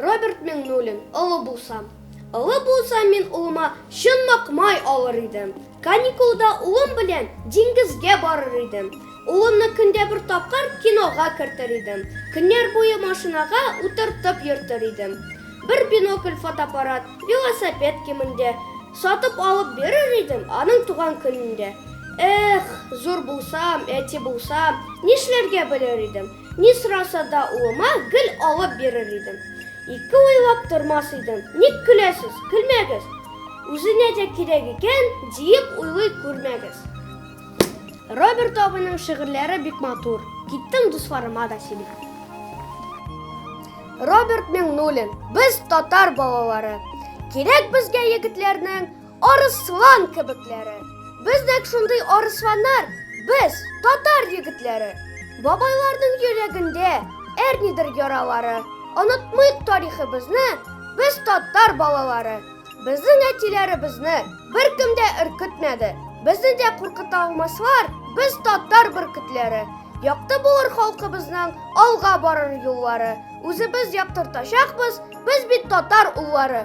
Роберт Меңнуллин, олы булсам. Олы булсам мин улыма чынлык май алыр идем. Каникулда улым белән диңгезгә барыр идем. Улымны көндә бер тапкыр кинога кертер идем. Көннәр буе машинага утыртып йөртер идем. Бер бинокль, фотоаппарат, велосипед кимендә сатып алып бирер идем аның туган көнендә. Эх, зур булсам, әти булсам, нишләргә белер идем. Ни сораса да улыма гел алып бирер идем. Ике уйлап тормас идем. Ник көләсез? Көлмәгез. Үзенә дә кирәк икән, диеп уйлый күрмәгез. Роберт абыйның шигырьләре бик матур. Киттем дусларыма да сөйли. Роберт Миңнуллин, без татар балалары. Кирәк безгә егетләрнең арыслан кебекләре. Без нәк шундый арысланнар, без татар егетләре. Бабайларның йөрәгендә әрнидер яралары. Онытмыйк тарихыбызны, Без татар балалары. Безнең әтиләребезне беркем дә өркетмәде. Безне дә куркыта алмаслар. Без татар бөркетләре. Якты булыр халкыбызның алга барыр юллары. Үзебез яктыртачакбыз, без бит татар уллары.